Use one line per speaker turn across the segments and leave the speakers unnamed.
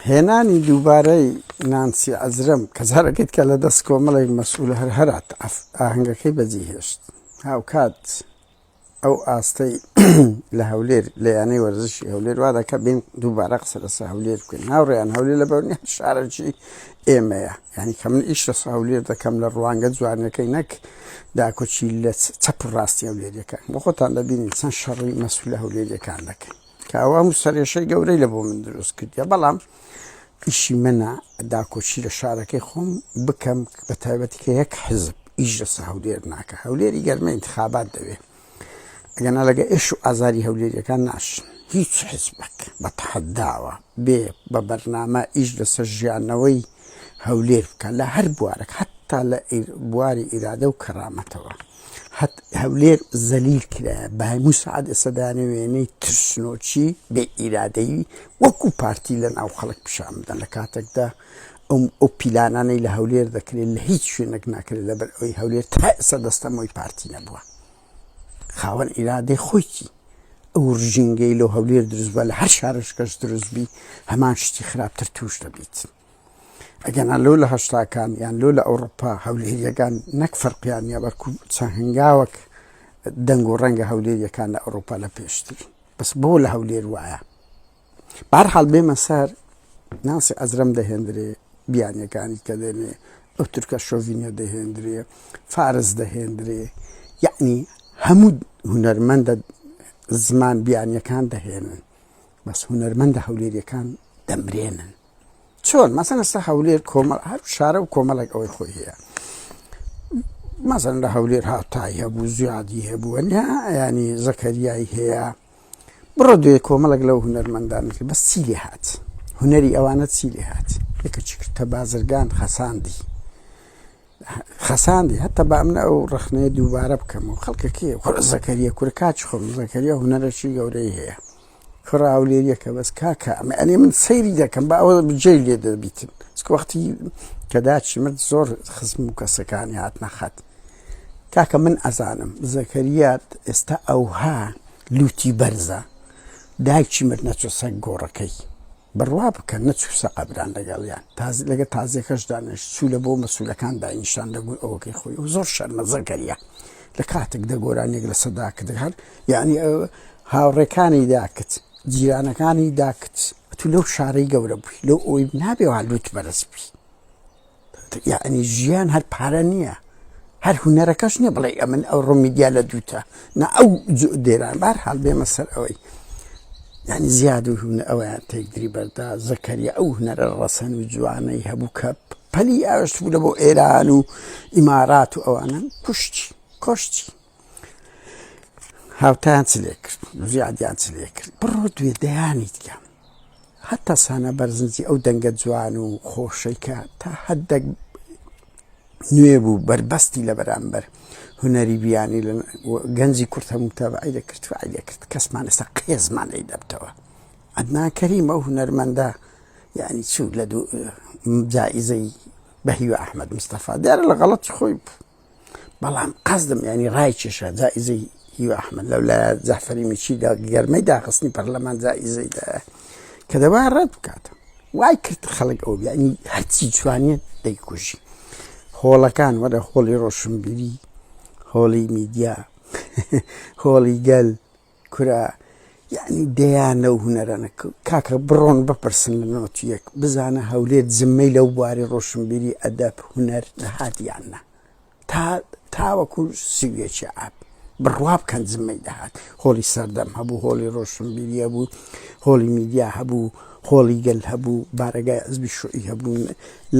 هێنانی دووبارەی نانسی عزرم کە جارەکەیت کە لە دەست کۆمەڵێک مەسول هەر هەرات ئاهنگەکەی بەجی هێشت هاوکات ئەو ئاستەی لە هەولێر لە یانەی وەرزشی هەولێر وا دەکە بین دووبارە قسە لەسە هەولێر بکەین هاوڕێیان هەولێر لە بەرنی شارەکی ئێمەیە یعنی کە من ئیش لەس هەولێر دەکەم لە ڕوانگە جوانەکەی نەک داکۆچی لە چەپ ڕاستی هەولێریەکان بۆ خۆتان دەبینین چەند شەڕی مەسول لە هەولێریەکان دەکەن کاوە هەموو سەرێشەی گەورەی لە بۆ من دروست کردیە بەڵام ئیشی منە داکۆچی لە شارەکەی خۆم بکەم بە تایبەتی کە یەک حزب ئیش لەسە هەولێر ناکە هەولێری گەرمە انتخابات دەوێ ئەگەنا لەگە ئێش و ئازاری هەولێریەکان ناشن هیچ حزبک بە تحداوە بێ بە بەرنامە ئیش لەسەر ژیانەوەی هەولێر بکە لە هەر بوارەک حتا لە بواری ئیرادە و کەرامەتەوە هەت هەولێر زەلیل کرا بە هەموو سەعات ئێستا دەیانە وێنەی ترسنۆکی بێ ئیرادەیی وەکو پارتی لە ناو خەڵک پیشان بدەن لە کاتێکدا ئەم ئەو پیلانانەی لە هەولێر دەکرێت لە هیچ شوێنێک ناکرێت لەبەر ئەوی هەولێر تا ئێستا دەستەمەوەی پارتی نەبووە خاوەن ئیرادەی خۆیکی ئەو ڕژینگەی لەو هەولێر دروستبە لە هەر شارشکەش دروستبی هەمان شتی خراپتر توش دەبیت ئەگەنا لۆ لە هەشتاکان یان لۆ لە ئەوروپا هەولێریەکان نەک فەرقیان نیە بەکو چەند هەنگاوەک دەنگ و ڕەنگە هەولێریەکان لە ئەوروپا لە پێشتر بەس بۆ لە هەولێر وایە بارحاڵ بێمە سەر ناسی ئەزرم دەهێندرێ بیانەکانی کە دێنێ ئەو تورکە شۆڤینە دەهێندرێ فارس دەهێندرێ یعنی هەموو هوەرمەندە زمان بیانەکان دەهێنن بەس هوەرمەندە هەولێریەکان دەمرێنن چۆن مەسەن ئستا هەولێر کۆمەڵ هەر شارە و کۆمەڵێک ئەوەی خۆی هەیە مەزن لە هەولێر هاتای هەبوو زیادی هەبووە ینی زەکەریایی هەیە بڕۆ دوێ کۆمەڵک لەو هوەرمەندانت بەس چی لێ هاات هوەری ئەوانە چی لێ هاات یەکە چی کردتە بازرگان خەساندی خەساندی هەتا با منە ئەو ڕخنەیە دووبارە بکەم و خەڵکەکەی خۆ زەکەریە کورکچ خۆم زەکەریە هوەرەشی گەورەی هەیە کوڕە هەولێریەکە بەس کاکە ئەمە ئەنێ من سەیری دەکەم با ئەوە بجێ لێ دەبیتن وەختی کە داچی من زۆر خزم و کەسەکانی هات نەخات کاکە من ئەزانم زەکەریات ئێستا ئەوها لوتی بەرزە دایکی مرد نەچۆ سەگ گۆڕەکەی بڕوا بکە نەچوو سەقە بران لەگەڵیان تازە لەگەر تازیەکەش دانەنیشت چوو لە بۆ مەسولەکان داینیشان لە گوی ئەوەکەی خۆی ئەو زۆر شەرمەزە کەریە لە کاتێک دە گۆرانیەک لە سەدا کە دەکات یانی هاوڕێکانی داکت جیرانەکانی داکت تو لەو شارەی گەورە بووی لەو ئەوی نابێ وا لوت بەرەز بی. یعنی ژیان هەر پارە نییە هەر هونەرەکەش نیە بڵێ ئەمن ئەو ڕمیدیا لە دووتە نا ئەو دێران بار حال بێمە سەر ئەوەی یعنی زیاد و هونە ئەویان تێکدری بەردا زەکەریە ئەو هونەرە ڕەسەن و جوانەی هەبوو کە پەلی ئاشت بوو لە بۆ ئێران و ئیمارات و ئەوانە کوشتی کۆشتی هاوتان چ لێ کرد زیادیان چ لێ کرد بڕۆ دوێ دەیانیت کەم هەتا سانە بەرزنجی ئەو دەنگە جوان و خۆشەیکە تا هەدەک نوێ بوو بەربەستی لە بەرامبەر هوەری بیانی لە گەنجی کورت هەموو تابعی دەکرد و دەکرد کەسمان ئێستا قێزمان لی دەبتەوە ئەدنا کەریمە و هوەرمەندە یعنی چوو لە دوو جائزەی بە هیوە ئەحمد مستەفا دیارە لە غەڵەت خۆی بوو بەڵام قەزدم ینی ڕای کێشا جائزەی هیوا ئەحمد لەو لە جەحفەری میچیدا گەرمەی داخستنی پەرلەمان جائزەیدا کە دەوا ڕەت بکات وای کرد خەڵک ئەو بیانی هەرچی جوانێت دەیکوژی هۆڵەکان وەرە هۆڵی ڕۆشنبیری هۆڵی میدیا هۆڵی گەل کورە یەعنی دەیان لەو هونەرەنە کاکە بڕۆن بپرسن لە نۆتی یەک بزانە هەولێر زممەی لەو بواری ڕۆشنبیری ئەدەب هونەر دەهات یان نا تا تاوەکو سویەکی ئاب بڕوا بکەن زممەی دەهات هۆڵی سەردەم هەبوو هۆڵی ڕۆشنبیریە بوو هۆڵی میدیا هەبوو هۆڵی گەل هەبوو بارەگای ئەزبی شوعی هەبوون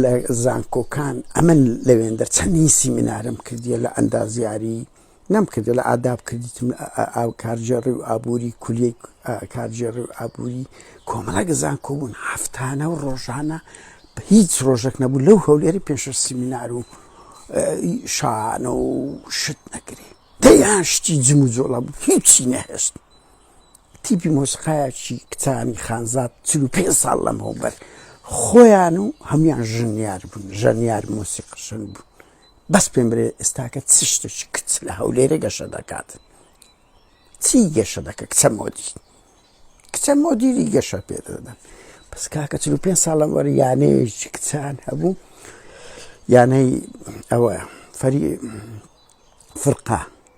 لە زانکۆکان ئەمن لەوێندە چەندین سیمینارم کردیە لە ئەندازیاری نەم کردە لە ئاداب کردیتم ئاو کارجێڕی و ئابووری کولیە کارجێڕی و ئابووری کۆمەڵە گەزان کۆبوون هەفتانە و ڕۆژانە هیچ ڕۆژێک نەبوو لەو هەولێری پێش سیمینار و شانە و شت نەکرێ دەیان شتی جم و جۆڵە بوو هیچی نەهێشت تیپی مۆسقایەکی کچانی خانزات چل و پێ ساڵ لەم هەوبەر خۆیان و هەمان ژنیار بوون ژەنیار مۆسیقشن بوو بەس پێم برێ ئێستاکە چ شتێکی کچ لە هەولێرە گەشە دەکات چی گەشە دەکە کچە مۆدی کچە مۆدیری گەشە پێ دەدەن بەس کاکە چل و پێ ساڵ لەم وەر یانەیەکی کچان هەبوو یانەی ئەوە فەری فرقا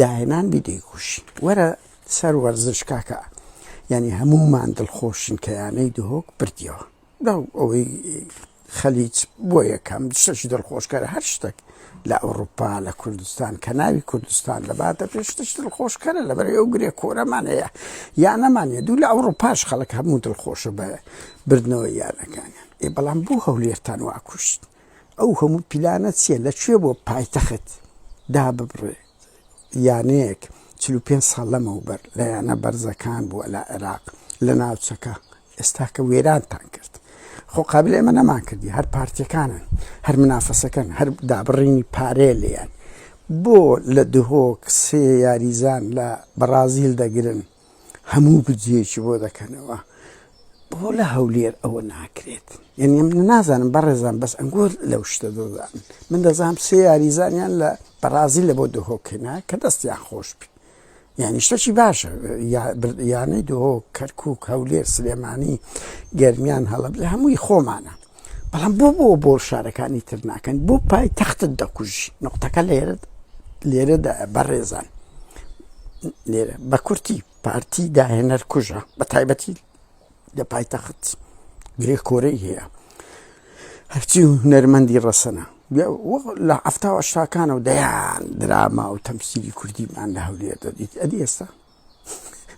داهێنان بی دەیکوشین وەرە سەر وەرزش کاکە یانی هەموومان دڵخۆشین کە یانەی دهۆک بردیەوە لەو ئەوەی خەلیج بۆ یەکەم شتەکی دڵخۆشکەرە هەر شتەک لە ئەوروپا لە کوردستان کە ناوی کوردستان دەباتە پێشتش دڵخۆشکەرە لەبەر ئەو گرێ کۆرەمان هەیە یانەمانە دوو لە ئەوروپاش خەڵک هەموو دڵخۆشە بە بردنەوە یانەکانیان ئێ بەڵام بوو هەولێرتان واکوشت ئەو هەموو پیلانە چیە لە کوێ بۆ پایتەخت داببڕێ یانەیەک چل و پێنج ساڵ لەمەوبەر لە یانە بەرزەکان بووە لە عێراق لە ناوچەکە ئێستاکە وێرانتان کرد خۆ قابل ئێمە نەمان کردی هەر پارتیەکانن هەر منافەسەکەن هەر دابڕینی پارێ لێیان بۆ لە دهۆک سێ یاریزان لە بەڕازیل دەگرن هەموو بودجەیەکی بۆ دەکەنەوە بۆ لە هەولێر ئەوە ناکرێت یعنی ئەم نازانم بەڕێزان بەس ئەنگۆر لەو شتە دۆزان من دەزانام سێ یاریزانیان لە بەڕازی لە بۆ دهۆکەنا کە دەستیان خۆش بی یعنی شتەکی باشە یانەی دۆ کەرکک هەولێر سلێمانی گەرمیان هەڵب لە هەمووی خۆمانە بەڵام بۆ بۆ بۆ شارەکانی تر ناکەن بۆ پای تەختت دەکوژی نقطەکە لێرە لێرەدا بەڕێزان لێرە بە کورتی پارتی داهێنەر کوژە بە تایبەتی لە پایتەخت گرێ کۆرەی هەیە هەرچی و نەرمەندی ڕەسەنە لە ئەفتاوە شاکانە و دەیان دراما و تەمسیری کوردیمان لە هەولێر دەدیت ئەدی ئێستا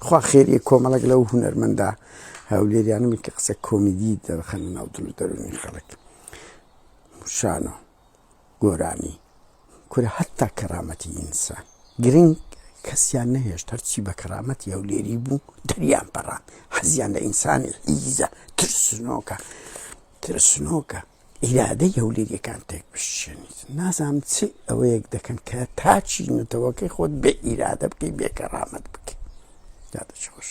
خوا خێریە کۆمەڵێک لەو هونەرمەندە هەولێریانە من کە قسە کۆمیدی دەرخەن ناو دل و دەرونی خەڵک شانۆ گۆرانی کورە هەتا کەرامەتی ئینسان گرنگ کەسیان نەهێشت هەرچی بە کەرامەتی هەولێری بوو دەریان پەڕان حەزیان لە ئینسانی ئیزە ترسنۆکە ترسنۆکە ئیرادەی هەولێریەکان تێک بشکێنیت نازانم چ ئەوەیەک دەکەن کە تاچی نەتەوەکەی خۆت بێ ئیرادە بکەی بێ کەڕامەت بکەی دادەچ خۆش.